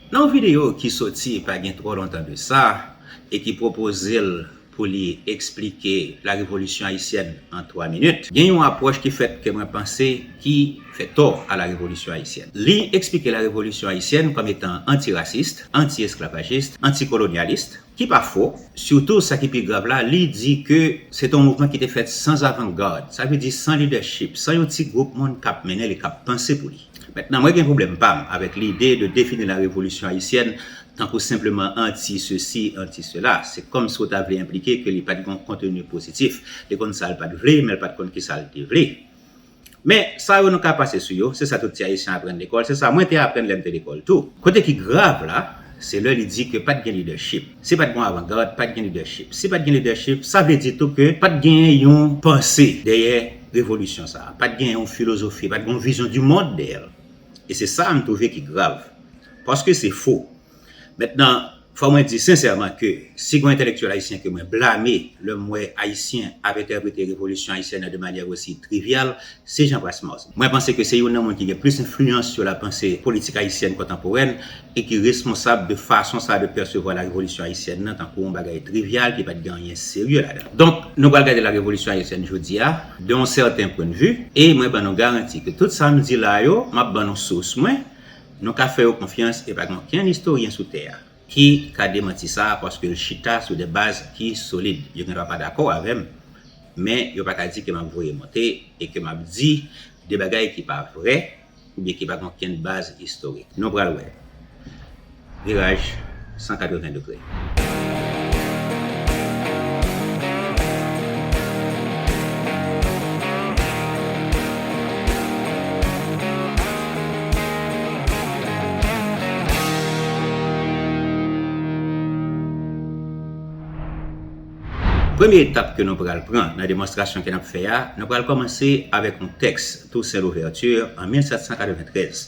Nan yon videyo ki soti pa gen twò lontan de sa e ki pwopoze l pou li eksplike la revolisyon ayisyèn an twa minit, gen yon apwòch ki fèt ke mwen panse ki fè tò a la revolisyon ayisyèn. Li eksplike la revolisyon ayisyèn kòm etan anti-raciste, anti-esclavagiste, anti-colonialiste, Ki pa fo, sitou sa ki pi grav la, li di ke se te yon mouvman ki te fèt sans avant-garde, sa vle di san lidèchip, san yon ti gwoup moun kap mennen li, kap panse pou li. Mentnan mwen gen pwoblèm pa m avèk lide de defini la revolisyon ayisyèn tankou senpleman anti sesi, anti sela. Se kòm si w ta vle enplike ke li pat gen yon konteni pozitif. Li konn sa l pat vle, men l pat konn kisa l te vle. Men, sa yo nou ka pase sou yo, se sa tout ti Ayisyen aprann lekòl, se sa mwen te aprann lè m te lekòl tou. Kote ki grav la, se lè li di ke pa t gen lidèchip. Si pa t gen yon avangad, pa t gen lidèchip. Si pa t gen lidèchip, sa vle di tou ke pa t genyen yon panse dèyè revolisyon sa a, pa t genyen yon filozofi, pa t gen yon vizyon di mond dèyè l. E se sa a m twouve ki grav. Paske se fo. Mentnan, fò mwen di sensèman ke si gon entèlektyèl ayisyen ke mwen blame lè m wè ayisyen ap entèprete revolisyon ayisyèn nan de manyè osi trivyal, se Jean Brasmose. Mwen panse ke se youn nan moun ki gen plis enfliyans sou la panse politik ayisyèn kontanporèn e ki responsab de fason sa de pèsevwa la revolisyon ayisyèn nan tankou yon bagay trivyal ki pa t gen anyen serye ladan. Donk, nou pral gade la revolisyon ayisyèn jodi a de yon sèten pwennvi e mwen ban nou garanti ke tout sa m di la yo, m ap ban nou sous mwen, Nou ka fè yo konfyans e pa gen okenn istoryen sou tè a ki ka demanti sa a paske l chita sou de baz ki solid. Yo gen dwa pa dakò avè m, men yo pa ka di ke m ap voye monte e ke m ap di de bagay ki pa vrè oubyen ki pa gen okenn baz istorik. Nou pral wè. Viraj. 180 degre. Premye etap ke nou pral pran nan demonstrasyon ke nap fè a, nou pral kòmanse avèk yon tèks Toussaint Louverture an 1793.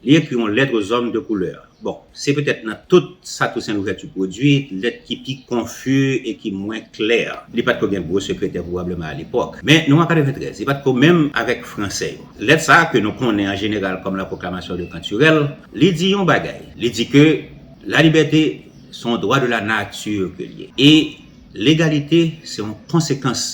Li ekri yon lèt ozòm de koulè. Bon, se petèt nan tout sa Tousen Louvèti pwodui, lèt ki pi konfi e ki mwen klè. Li pa t ko gen gwo sekretè pwobableman alepòk. Men, nou an 93, li pa t ko menm avèk Franse yo. Lèt sa a, ke nou konnen an jeneral kòm La Proclamation de Canturel, li di yon bagay. Li di ke la libète se yon dwa de la nati ke l ye. E legalite se yon konsekans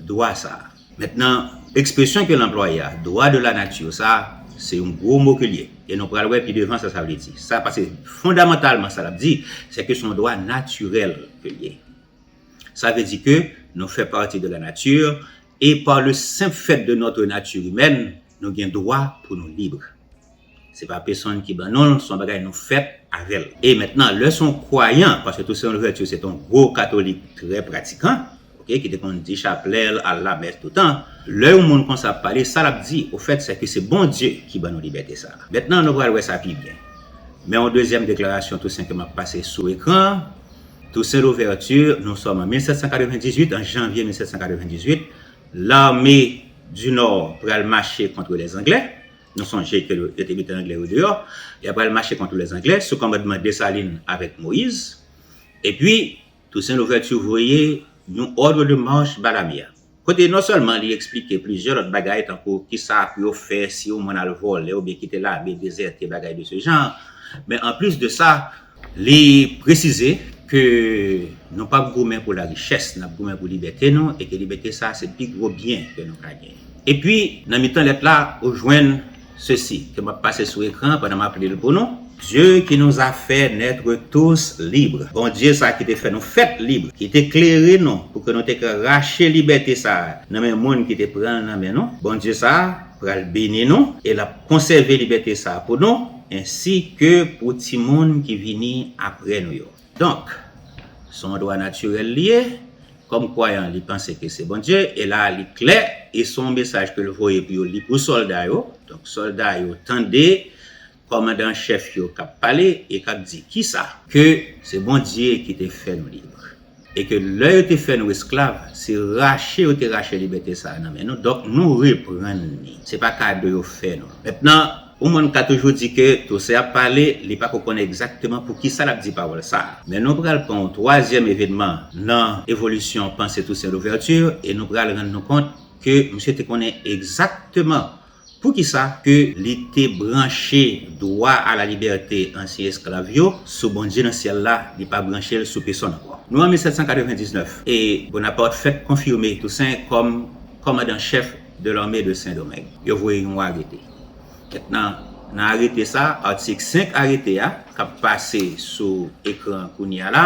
dwa sa a. Mentnan, ekspresyon ke l anplwaye a, dwa de la nature, sa, se yon gwo mo ke l ye. E nou pral wè pi devan sa sa vle di. Sa, pase fondamantalman sa l ap di, se ke se yon dwa natirèl ke l ye. Sa vle di ke nou fè pati de la nature, e par le simple fait de notre nature humaine, nou gen dwa pou nou libre. Se pa pesonn ki ban nou l, se yon bagay nou fèt avè l. E mentnan, lè se yon kwayan, paske Toussaint Louverture se te yon gwo katolik trè pratikan, ok, ki te konn di chaplè l, al lamès toutan, lè yon moun konsa ap pale, sa l ap di, ofèt, sè ke se Bondye ki ban nou libète sa a. Mentnan, nou pral wè sa pi byen. Men yon dezyèm deklarasyon Toussaint ke m ap pase sou ekran an, Toussaint Louverture, nou sòm an 1798, an janvye 1798, L'armée du Nord pral mache kontre les Anglais, Nou sonje ke yo te mete Anglè yo deyò, y apral mache kont lè Anglè sou kòmandman Desalin avèk Moyiz. Epi, Tousen Louvèti voye yon òdre de mach ba lame a. Kote non sèlman li eksplike plizyè lòt bagay tankou kisa pou yo fè si yon moun al vòlè oubyen kite lame dezète bagay de se jan, men anplis de sa, Li presize ke nou pap goumen pou larichès, nap goumen pou libète nou e ke libète sa se pi gwo byen ke nou ka genyen. Epi, nan mitan lèt la, ou jwenn sesi, ke map pase sou ekran an pandan map li l pou nou. Dieu qui nous a fait naître tous libres, Bondye sa ki te fè nou fèt lib, ki te klere nou pou ke nou te ka rache libète sa nan men moun ki te pran l nan men nou, Bondye sa pral beni nou e lap konsève libète sa pou nou, Ensi ke pou timoun ki vini apre nou yo. Donk, s on dwa natirèl li ye, kòm kwayan li panse ke se Bondye, e la a li klè, e s on mesaj ke l voye pou yo li pou sòlda yo, donk sòlda yo tande kòmandan an chèf yo k ap pale e k ap di, Kisa? Ke se Bondye ki te fè nou lib. E ke lè yo te fè nou esklav, se rache yo te rache libète sa a nan men nou, donk nou reprann li. Se pa kado yo fè nou. Mentnan, yon moun ka toujou di ke Toussaint ap pale, li pa ko konnen egzakteman pou ki sa l ap di pawòl sa a. Men nou pral pran yon twazyèm evenman nan evolisyon panse Toussaint Louverture e nou pral rann nou kont ke misye te konnen egzakteman Poukisa ke li te branche dwa a la libète ansyen esklav yo sou Bondye nan syèl la, li pa branche l sou pesonn ankò? Nou an 1799, e Bonaparte fèk konfime Toussaint kòm kòmandan chèf de l'armée de Sendomeng. Yo voye yon arete. Kèk nan nan arete sa, atik 5 arete a, k ap pase sou ekran kounye a la,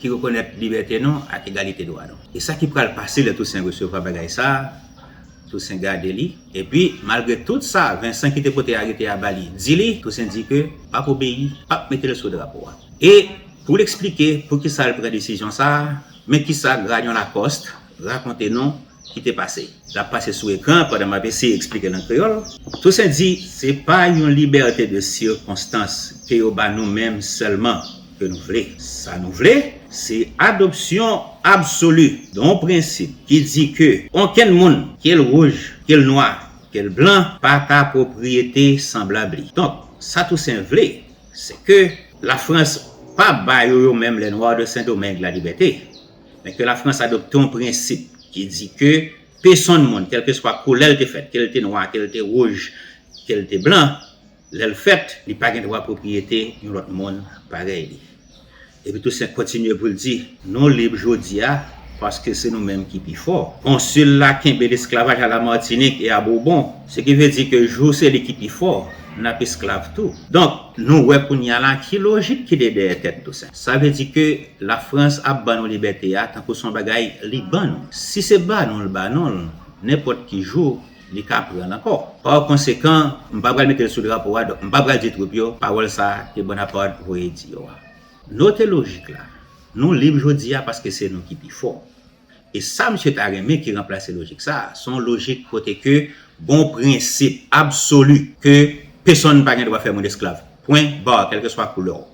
ki rekonèt libète nou ak egalite dwa nou. E sa ki pral pase lè Tousen resevwa bagay sa a? Tousen gade li, epi, malgre tout sa Vensan ki te pote arete a ba li, di li, Tousen di ke l pap obeyi, p ap mete l sou drapo a. E, pou l eksplike poukisa l pran desizyon sa a, men kisa Grayon Lacoste rakonte nou, ki te pase. L ap pase sou ekran an pandan m ap eseye eksplike l an kreyòl. Tousen di, Se pa yon libète de sikonstans ke yo ba nou menm sèlman ke nou vle. Sa nou vle, se adopsyon absoli don prensip ki di ke onkenn moun, ke l wouj, ke l nwa, ke l blan, pa ka pwopriyete sanblab li. Donk, sa Tousen vle, se ke Lafrans pa ba yo yo menm, les Noirs de Saint-Domingue, la libète. Men ke la Frans adopte yon prensip ki di ke pesonn moun, kèlkeswa koulè l te fèt, ke l te nwa, ke l te wouj, ke l te blan, lè l fèt, li pa gen dwa pwopriyete yon lòt moun parèy li. Epi Tousen kontinye pou l di, Nou lib jodi a, paske se nou menm ki pi fò. Konsil la kenbe lesklavaj a Lamatinik e a Bourbon, se ki vle di ke jou se li ki pi fò, n ap esklav tou. Donk, nou wè kounye a la ki lojik ki te dèyè tèt Tousen. Sa vle di ke La France ap ban nou libète a tankou son bagay li ban nou. Si se ba nou l ba nou l, nenpòt ki jou li ka pran l ankò. Par konsekan, m pa pral mete l sou drapo a, donk m pa pral di twoup yo pawòl sa ke Bonaparte voye di yo a. Note lojik la, nou lib jodi a paske se nou ki pi fò. E sa misye ta renmen ki ranplase lojik sa, se yon lojik kote ke gon prensip absoli ke pesonn pa gen dwa fè moun esklav. Pwen bar, kèlkeswa koulè w.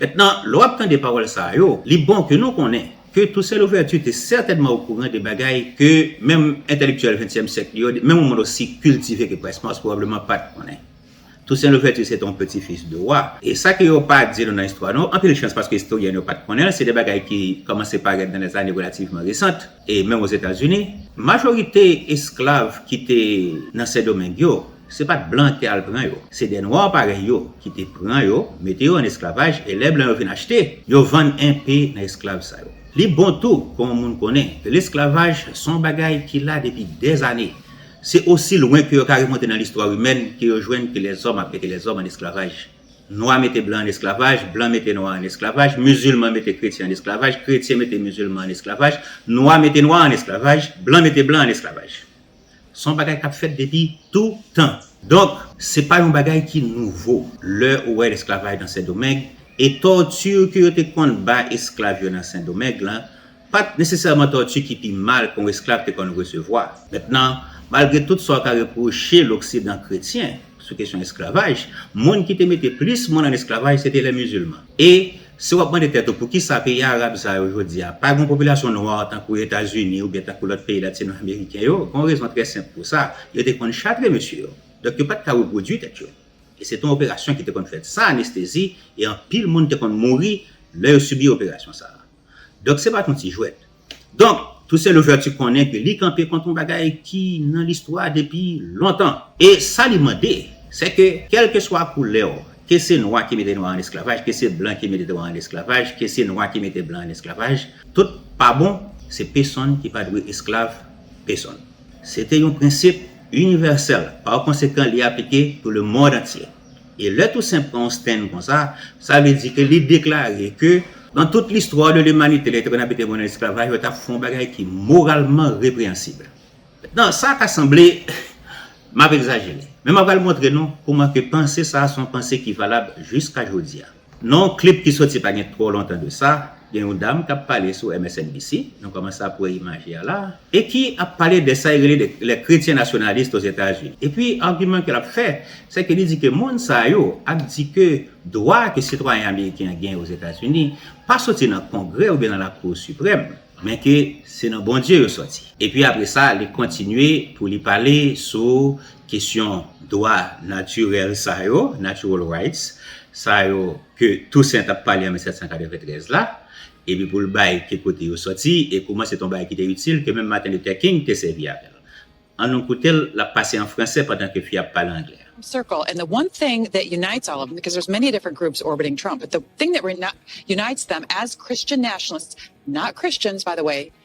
Mentnan, lè w ap tande pawòl sa yo, li bon ke nou konnen ke Toussaint Louverture te sètènman okouran de bagay ke menm entèlektyèl ventyèm syèk li yo, menm yon moun osi kiltive ke Prespas pwobableman pa t konnen. Toussaint Louverture se te yon peti fis de wa, e sa ke yo pa di nou nan istwa nou, anpil chans paske istoryèn yo pa t konnen l, se de bagay ki kòmanse parèt nan lèzane relativman resant. E menm Ozetazini, majorite esklav ki te nan Sendomeng yo, se pa t blan ki te al pran yo. Se de nwa parèy yo ki te pran yo, mete yo ann esklavaj e lè blan yo vin achte, yo vann enpe nan esklav sa yo. Li bon tou pou yon moun konnen ke lesklavaj se yon bagay ki la depi dèzane. Se osi lwen ke yo ka remonte nan listwa imèn ke yo jwenn ke lèzòm ap mete lèzòm ann esklavaj. Nwa mete blan an esklavaj, blan mete nwa an esklavaj, mizilman mete kretyen an esklavaj, kretyen mete mizilman an esklavaj, nwa mete nwa an esklavaj, blan mete blan an esklavaj. S on bagay k ap fèt depi tou tan. Donk, se pa yon bagay ki nouvo. Lè ou wè lesklavaj nan Sendomeng, e tòti ke yo te konn ba esklav yo nan Sendomeng lan, Pa t nesesèman tòti ki pi mal ke yon esklav te konn resevwa. Mentnan, malgre tout sa w ka repwoche loksidan kretyen sou kesyon esklavaj, moun ki te mete plis moun ann esklavaj se te lè mizilman. E, si w ap mande tèt ou poukisa peyi arab sa yo jodi a pa gen yon popilasyon nwa tankou Etazini oubyen tankou lòt peyi latino-ameriken yo, gen yon rezon trè senp pou sa, yo te konn chatre mesye yo. Donk yo pa t ka repwodui tèt yo. E se te yon operasyon ki te konn fèt san anestezi e anpil moun te konn mouri lè yo sibi operasyon sa a. Donk se pa t yon ti jwèt. Donk, Toussaint Louverture konnen ke li kanpe kont yon bagay ki nan listwa depi lontan. E sa li mande, se ke kèlkeswa koulè w, ke se nwa ki mete nwa an esklavaj, ke se blan ki mete nwa an esklavaj, ke se nwa ki mete blan an esklavaj, tout pa bon, se pesonn ki pa dwe esklav pesonn. Se te yon prensip inivèsèl, pakonsekan li aplike pou lemond antye. E lè Tousen pran yon stand konsa, sa vle di ke li deklare ke nan tout listwa de limanite lè te konn abite moun an esklavaj yo tap fè yon bagay ki moralman repreyansib. Nan sa ka sanble map egzajere, men mwen pral montre nou kouman ke panse sa se yon panse ki valab jiska jodi a. Nan yon klip ki soti pa gen twò lontan de sa, gen yon dam k ap pale sou MSNBC, nou kòmanse ap wè imaj li a la a, e ki ap pale de sa y rele de les chrétiens nationalistes aux États-Unis. Epi agiman ke l ap fè, se ke li di ke moun sa yo ap di ke dwa ke sitwayen ameriken an genyen Ozetazini pa soti nan Kongrè oubyen nan Lakou Siprèm, men ke se nan Bondye yo soti. Epi apre sa, li kontinye pou li pale sou Kesyon dwa natirèl sa yo, natural rights, sa yo ke Toussaint t ap pale an 1793 la, epi pou l bay ki kote yo sòti e kouman se te yon bagay ki te itil ke menm Martin Luther King te sèvi avè l. An nou koute l, l ap pase an franse pandan ke fi a ap pale anglè. circle and the one thing that unites all of them because there's many different groups orbiting Trump but the thing that unites them as Christian nationalists not Christians by the way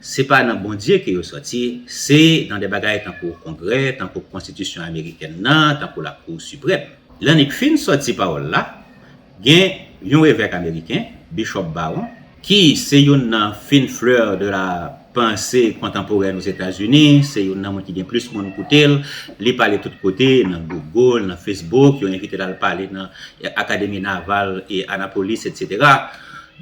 Se pa nan Bondye ke yo sòti, se nan de bagay tankou Kongrè, tankou Konstitisyon Amerikèn nan, tankou Lakou Siprèm. Lè Nick fin sòti pawòl la, gen yon evèk ameriken, Bishop Barron, ki se youn nan fin fleur de la panse kontanporèn Ozetazini, se youn nan moun ki gen plis moun koute l, li pale tout kote, nan Google, nan Facebook, yo envite l al pale nan Akademi Naval e Annapolis, etc.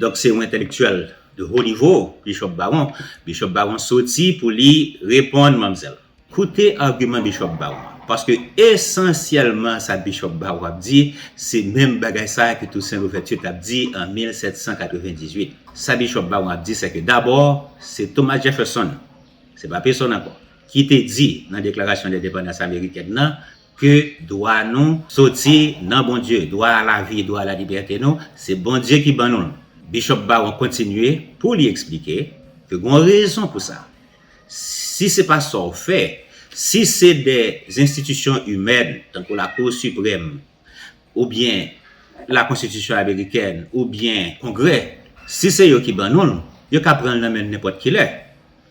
Donk se yon entelektyèl. De haut niveau, Bishop Baron. Bishop Baron soti pou li reponn manmzèl. Koute argument Bishop Baron an. Paske esansyèlman sa Bishop Baron ap di, se menm bagay sa ke Toussaint Louverture tap di an 1798. Sa Bishop Baron ap di sèke dabò se Thomas Jefferson, se pa pesonn ankò, ki te di nan Deklarasyon Lendepandans Amerikèn nan Ke dwa nou soti nan Bondye. Dwa a lavi, dwa a lalibète nou, se Bondye ki ban nou l. Bishop Barron kontinye pou li eksplike ke gon rezon pou sa. Si se pa sa w fè, si se de enstitisyon imèn, tankou Lakou Siprèm, oubyen Lakonstitisyon Amerikèn, oubyen Kongrè, si se yo ki ban nou l, yo ka pran l nan men n nenpòt kilè.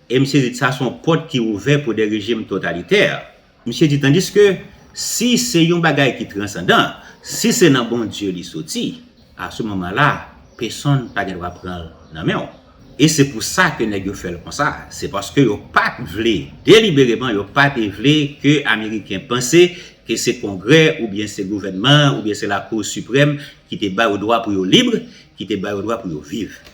E m sezi di sa se yon pòt ki ouvè pou de rejim totalitè. Misye di tandiske si se yon bagay ki transandan, si se nan Bondye li soti, a se moman la, pesonn pa gen dwa pran l nan men w. E se pou sa ke nèg yo fè l konsa, se paske yo pa t vle, delibereman yo pa te vle ke Ameriken panse ke se Kongrè oubyen se gouvènman oubyen se Lakou Siprèm ki te ba yo dwa pou yo lib, ki te ba yo dwa pou yo viv.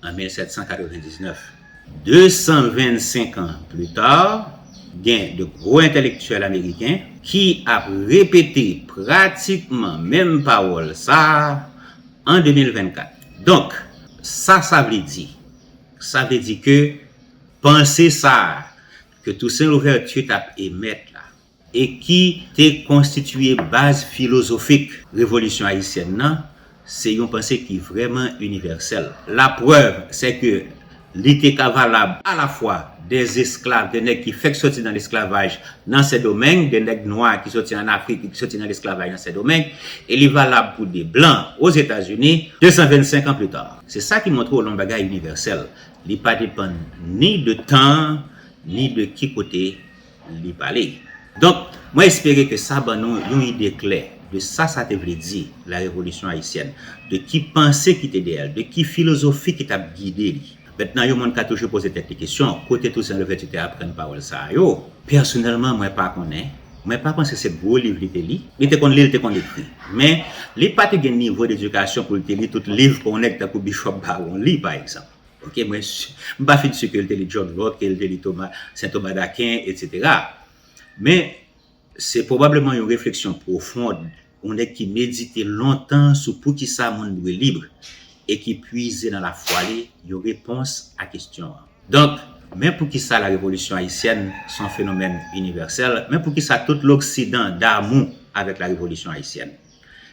an 1799. 225 an plus tard, gen de gwo entèlektyèl ameriken ki ap repete pratikman menm pawòl sa a an 2024. Donk, sa sa vle di? Sa vle di ke panse sa a ke Toussaint Louverture t ap emèt la, e ki te konstitiye baz filozofik Revolisyon ayisyèn nan, se yon panse ki vrèman inivèsèl. Laprèv, sè ke li te ka valab alafwa de zesklav, de nèg ki fèk soti nan lesklavaj nan Sendomeng, de nèg nwa ki soti an Afrik e ki soti nan lesklavaj nan Sendomeng, e li valab pou de blan Ozetazini, 225 an plita. Se sa ki montre w lon bagay inivèsèl, li pa depann ni de tan, ni de ki kote. li pale. Donk, mwen espere ke sa ban nou yon ide klè de sa sa te vle di, La Revolisyon Ayisyèn, de ki panse ki te dèyè l, de ki filozofi ki t ap gide li. Mentnan, yon moun ka toujou poze tèt li kesyon, kote Tousen Louvèti te aprann pawòl sa a yo? Pèsonèlman, mwen pa konnen. Mwen pa panse se gwo liv li te li. Li te konn li, li te konn ekri. Men, li pa te gen nivo dedikasyon pou l te li tout liv ke yon nèg tankou Bishop Barron li, pa egzanp. Ok mwen m pa fin su ke l te li John Locke, ke l te li Thomas, Sen Thomas d'Aquin etc. Men se pwobableman yon refleksyon pwofond yon nèg ki medite lontan sou poukisa moun dwe lib e ki pwize nan lafwa li yon repons a kestyon an. Donk, men poukisa la revolisyon ayisyèn s on fenomèn inivèsèl, men poukisa tout loksidan damou avèk la revolisyon ayisyèn.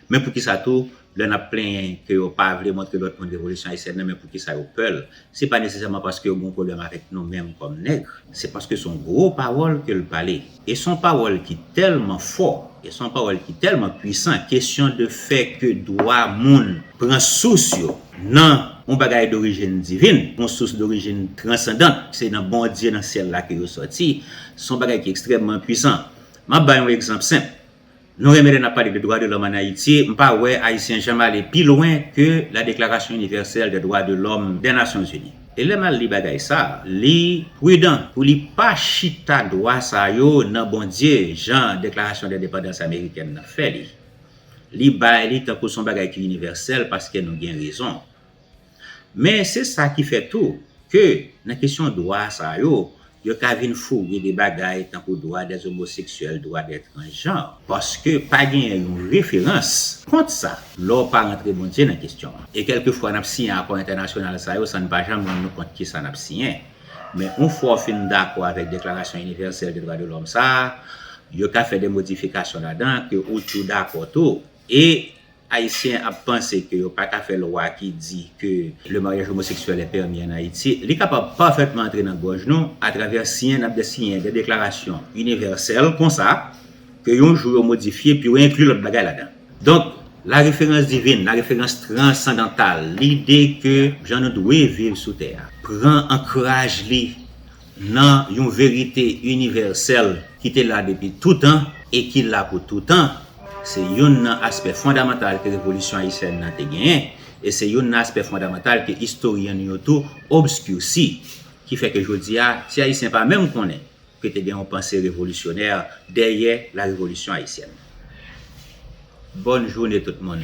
Men poukisa tou, lè n ap plenyen ke yo pa vle montre lòt moun Revolisyon Ayisyèn nan, men poukisa yo pè l? Se pa nesesèman paske yo gen yon pwoblèm avèk nou menm kòm nègre. Se paske s on gwo pawòl ke l pale. E s on pawòl ki tèlman fò, e s on pawòl ki tèlman pwisan, kesyon de fè ke dwa moun pran sous yo nan yon bagay dorijin divin, yon sous dorijin transandant, se nan Bondye nan syèl la ke yo sòti, s on bagay ki ekstrèmman pwisan. M ap bay yon egzanp senp. Nou renmen lè nap pale de dwa de lòm an Ayiti, m pa wè Ayisyen janm ale pi lwen ke la deklarasyon inivèsèl dè dwa de lòm dè Nasyon Zini. E lè mal li bagay sa, li prudan pou li pa chita dwa sa yo nan Bondye jan deklarasyon dendepandans amerikèn nan fè li. Li bay li tankou son bagay ki inivèsèl paske nou gen rezon. Men se sa ki fè tou, ke nan kesyon dwa sa yo, yo ka vin fouge de bagay tankou dwa dè omoseksyèl, dwa dè transjan, paske pa genyen yon referans kont sa, lè w pa rantre Bondye nan kesyon an. E kèlke fwa n ap siyen akò entènasyonal sa yo san n pa janm rann nou kont kisa n ap siyen. Men yon fwa w fin dakò avèk deklarasyon inivèsèl de dwa de lòm sa a, yo ka fè de modifikasyon ladan ke ou tou dakò tou, E Ayisyen ap panse ke yo pa ka fè lwa ki di ke le mariage homosexuel est permis en Haïti, li kapab pafètman antre nan gòj nou atravè siyen n ap de siyen de deklarasyon inivèsèl konsa ke yon jou yo modifye epi yo enkli lòt bagay ladan. Donk, la reference divine, la reference transcendantale, lide ke jan nou dwe viv sou tè a, pran ankraj li Nan yon verite inivèsèl ki te la depi toutan e ki la pou toutan, se youn nan aspè fondamantal ke Revolisyon Ayisyèn nan te genyen, e se youn nan aspè fondamantal ke istoryen nou yo tou obscurci, ki fè ke jodi a, ti Ayisyen pa menm konnen ke te gen yon panse revolisyonè dèyè la Revolisyon Ayisyèn. Bòn joune tout moun.